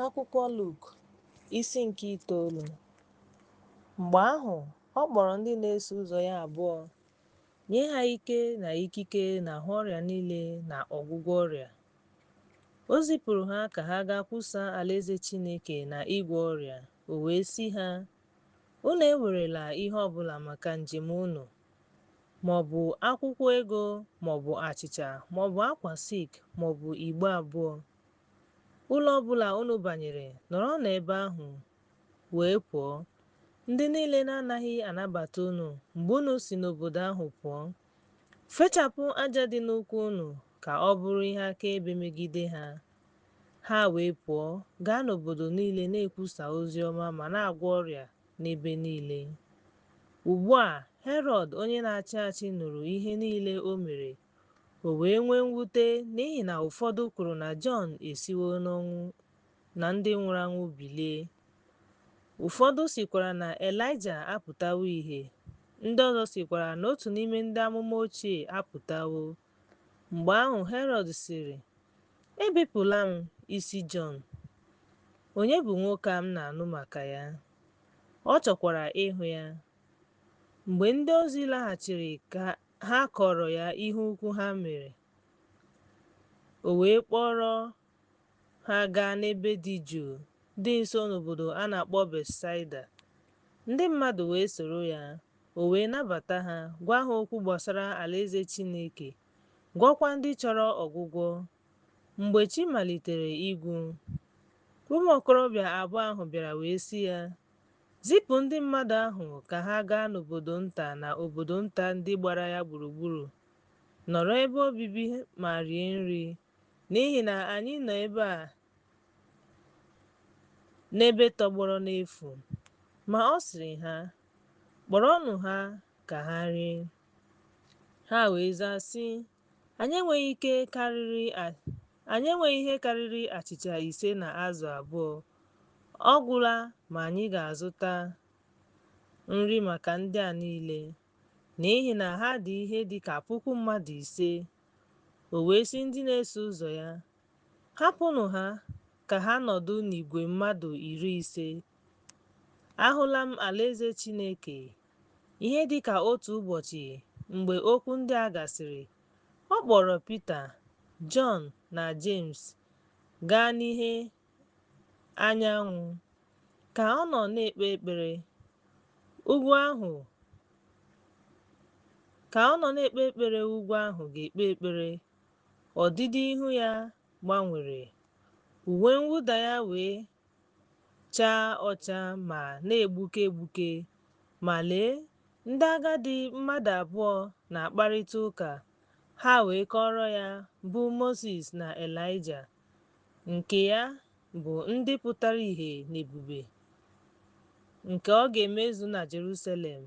Akwụkwọ Luk isi nke itoolu mgbe ahụ ọ kpọrọ ndị na-eso ụzọ ya abụọ nye ha ike na ikike n'ahụ ọrịa niile na ọgwụgwọ ọrịa o zipụrụ ha ka ha gaa kwusaa alaeze Chineke na ịgwọ ọrịa o wee sị ha Unu ewerela ihe ọ bụla maka njem unu, ma ọ bụ akwụkwọ ego ma ọ bụ achịcha ma ọ bụ akwa silk ma ọ bụ igbe abụọ. Ụlọ ọ bụla unu banyere, nọrọ n'ebe ahụ wee pụọ. Ndị niile na-anaghị anabata unu mgbe unu si n'obodo ahụ pụọ, fechapụ aja dị n'ụkwụ unu ka ọ bụrụ ihe akaebe megide ha. Ha wee pụọ gaa n'obodo niile na-ekwusa ozi ọma ma na-agwọ ọrịa n'ebe niile. Ugbu a, Herọd onye na-achị achị nụrụ ihe niile o mere, o wee nwee mwute n'ihi na ụfọdụ kwuru na Jọn esiwo n'ọnwụ na ndị nwụrụ anwụ bilie. Ụfọdụ sịkwara na Elaịja apụtawo ihe, ndị ọzọ sịkwara na otu n'ime ndị amụma ochie apụtawo. Mgbe ahụ Herọd sịrị, Ebipụla m isi Jọn. Onye bụ nwoke a m na-anụ maka ya? Ọ chọkwara ịhụ ya. Mgbe ndị ozi laghachiri ka ha kọọrọ ya ihe ukwu ha mere, o wee kpọrọ Ha gaa n'ebe dị jụụ dị nso n'obodo a na-akpọ Betsaida. Ndị mmadụ wee soro ya, o wee nabata ha, gwa ha okwu gbasara Alaeze Chineke, gwọọkwa ndị chọrọ ọgwụgwọ. Mgbe chi malitere ịgwụ, ụmụ okorobịa abụọ ahụ bịara wee sị ya, Zipụ ndị mmadụ ahụ ka ha gaa n'obodo nta na obodo nta ndị gbara ya gburugburu, nọrọ ebe obibi ma rie nri. N'ihi na anyị nọ ebe a n'ebe tọgbọrọ n'efu. Ma ọ sịrị ha, Kpọrọnụ ha ka ha rie. Ha wee zaa sị, Anyị enweghị ihe karịrị achịcha ise na azụ abụọ. Ọ gwụla ma anyị ga-azụta nri maka ndị a niile, n'ihi na ha dị ihe dị ka puku mmadụ ise. O wee sị ndị na-eso ụzọ ya, Hapụnụ ha ka ha nọdụ n'igwe mmadụ iri ise. Ahụla m alaeze Chineke. Ihe dị ka otu ụbọchị mgbe okwu ndị a gasịrị, ọ kpọrọ Pita, Jọn, na Jems gaa n'ihe anyanwụ. Ka ọ nọ na-ekpe ekpere, ugwu ahụ ga-ekpe ekpere, ọdịdị ihu ya gbanwere, uwe mwụda ya wee chaa ọcha ma na-egbuke egbuke. Ma lee, ndị agadi mmadụ abụọ na-akparịta ụka, ha wee kọọrọ ya, bụ Mozis na Elaịja. nke ya bụ ndị pụtara ihe n'ebube nke ọ ga-emezu na Jerusalem.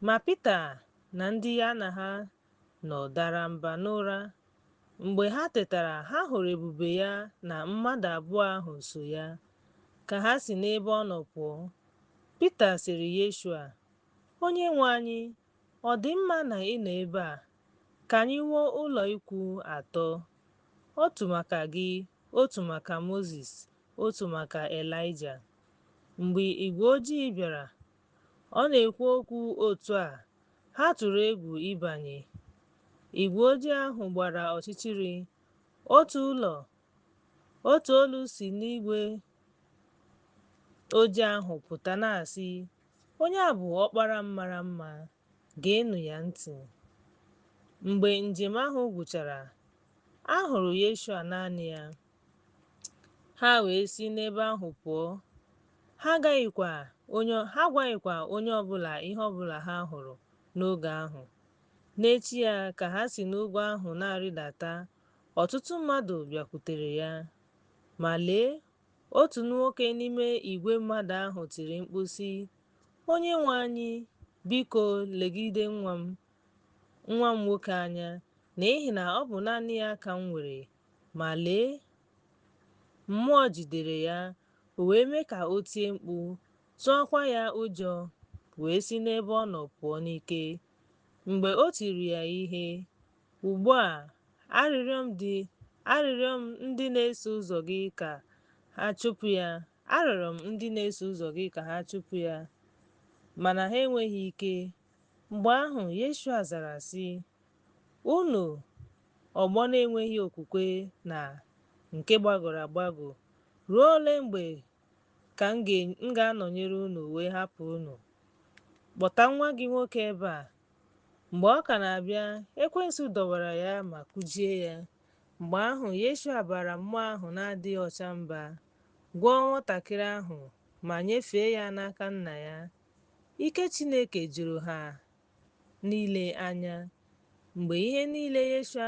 Ma Pita na ndị ya na ha nọ dara mba n'ụra. Mgbe ha tetara, ha hụrụ ebube ya na mmadụ abụọ ahụ so ya, ka ha si n'ebe ọ nọ pụọ. Pita sịrị Yeshua, Onyenwe anyị, Ọ dị mma na ị nọ ebe a. Ka anyị wuo ụlọikwuu atọ, otu maka gị, otu maka Mozis, otu maka Elaịja. Mgbe igwe ojii bịara, ọ na-ekwu okwu otu a, ha tụrụ egwu ịbanye. Igwe ojii ahụ gbara ọchịchịrị, otu ụlọ, otu olu si n'igwe ojii ahụ pụta na-asị, Onye a bụ ọkpara m mara mma, geenụ ya ntị. Mgbe njem ahụ gwụchara, a hụrụ Yeshua naanị ya. Ha wee si n'ebe ahụ pụọ. Ha agwaghịkwa onye ọbụla ihe ọbụla ha hụrụ n'oge ahụ. N'echi ya ka ha si n'ugwu ahụ na-arịdata, ọtụtụ mmadụ bịakwutere ya Ma lee, otu nwoke n'ime igwe mmadụ ahụ tiri mkpu sị, Onyenwe anyị, biko legide nwa m, nwa m nwoke anya, n'ihi na ọ bụ naanị ya ka m nwere. Ma lee, mmụọ jidere ya, o wee mee ka o tie mkpu, tụọkwa ya ụjọ, wee si n'ebe ọ nọ pụọ n'ike. Mgbe o tiri ya ihe, Ugbu a, arịrịọ m ndị arịrịọ m ndị na-eso ụzọ gị ka ha chụpụ ya arịọrọ m ndị na-eso ụzọ gị ka ha chụpụ ya mana ha enweghị ike mgbe ahụ Yeshua zara sị unu ọgbọ na-enweghị okwukwe na nke gbagọrọ agbagọ ruo ole mgbe ka m ga-anọnyere unu wee hapụ unu kpọta nwa gị nwoke ebe a Mgbe ọ ka na-abịa, ekwensu dọwara ya ma kụjie ya. Mgbe ahụ, Yeshua baara mmụọ ahụ na-adịghị ọcha mba, gwọọ nwatakịrị ahụ, ma nyefee ya n'aka nna ya. Ike Chineke juru ha niile anya. Mgbe ihe niile Yeshua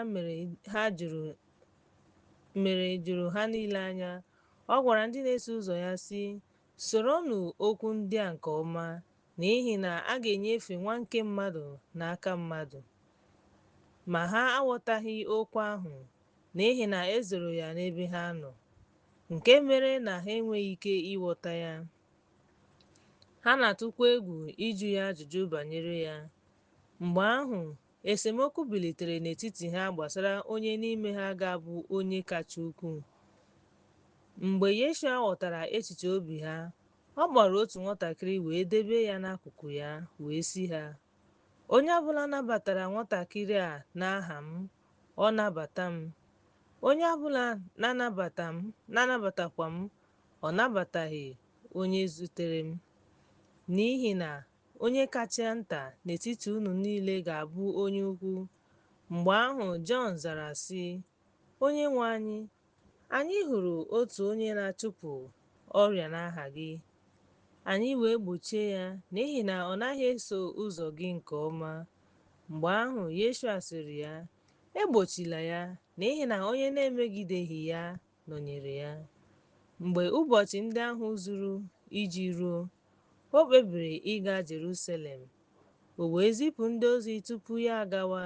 mere juru ha niile anya, ọ gwara ndị na-eso ụzọ ya, sị, Soronụ okwu ndị a nke ọma, N'ihi na a ga-enyefe Nwa nke mmadụ n'aka mmadụ. Ma ha aghọtaghị okwu ahụ, n'ihi na e zoro ya n'ebe ha nọ, nke mere na ha enweghị ike ịghọta ya. Ha na-atụkwa egwu ịjụ ya ajụjụ banyere ya. Mgbe ahụ, esemokwu bilitere n'etiti ha gbasara onye n'ime ha ga-abụ onye kacha ukwuu. Mgbe Yeshua ghọtara echiche obi ha, Ọ kpọrọ otu nwatakịrị wee debe ya n'akụkụ ya wee sị ha, Onye ọbụla nabatara nwatakịrị a n'aha m, ọ nabata m. Onye ọbụla na-anabata m na-anabatakwa m, ọ nabataghị onye zutere m. N'ihi na onye kacha nta n'etiti unu niile ga-abụ onye ukwu. Mgbe ahụ Jọn zara sị, Onyenwe anyị, Anyị hụrụ otu onye na-achụpụ ọrịa n'aha gị, anyị wee gbochie ya n'ihi na ọ naghị eso ụzọ gị nke ọma. Mgbe ahụ, Yeshua sịrị ya, Egbochila ya, n'ihi na onye na-emegideghị ya nọnyere ya. Mgbe ụbọchị ndị ahụ zuru iji ruo, o kpebiri ịga Jerusalem. O wee zipụ ndị ozi tupu ya agawa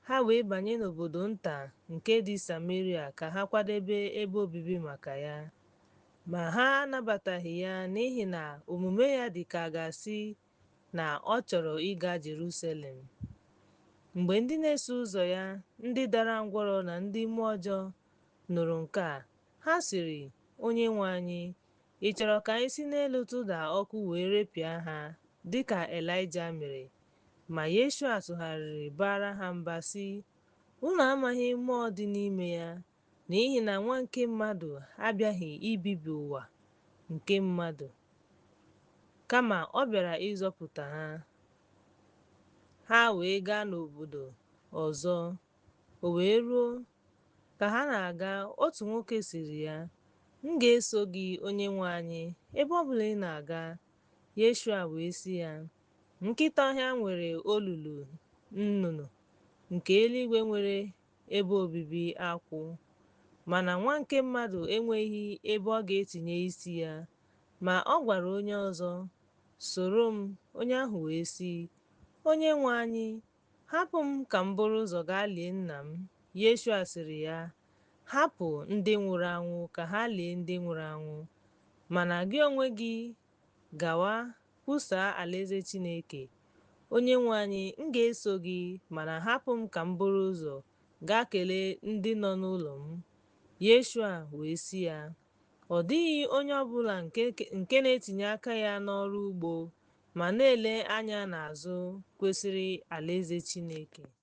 Ha wee banye n'obodo nta nke dị Sameria ka ha kwadebe ebe obibi maka ya. Ma ha anabataghị ya n'ihi na omume ya dị ka a ga-asị na ọ chọrọ ịga Jeruselem. Mgbe ndị na-eso ụzọ ya, ndị dara ngwọrọ na ndị mmụọ ọjọọ, nụrụ nke a, ha sịrị, Onyenwe anyị, ị chọrọ ka anyị si n'elu tụda ọkụ wee repịa ha, dị ka Elaịja mere? Ma Yeshua tụgharịrị baara ha mba sị, Unu amaghị mmụọ dị n'ime ya, n'ihi na Nwa nke mmadụ abịaghị ibibi ụwa nke mmadụ, kama ọ bịara ịzọpụta ha. Ha wee gaa n'obodo ọzọ. O wee ruo, ka ha na-aga, otu nwoke sịrị ya, M ga-eso gị, Onyenwe anyị, ebe ọ bụla ị na-aga. Yeshua wee sị ya, Nkịta ọhịa nwere olulu nnụnụ nke eluigwe nwere ebe obibi akwụ, mana nwa nke mmadụ enweghị ebe ọ ga-etinye isi ya. Ma ọ gwara onye ọzọ, Soro m, onye ahụ wee sị, Onyenwe anyị, hapụ m ka m buru ụzọ gaa lie nna m. Yeshua sịrị ya, Hapụ ndị nwụrụ anwụ ka ha lie ndị nwụrụ anwụ, mana gị onwe gị Gawa, kwusaa alaeze Chineke. Onyenwe anyị, m ga-eso gị, mana hapụ m ka m buru ụzọ gaa kelee ndị nọ n'ụlọ m. Yeshua wee sị ya, Ọ dịghị onye ọ bụla nke na-etinye aka ya n'ọrụ ugbo ma na-ele anya n'azụ kwesịrị alaeze Chineke.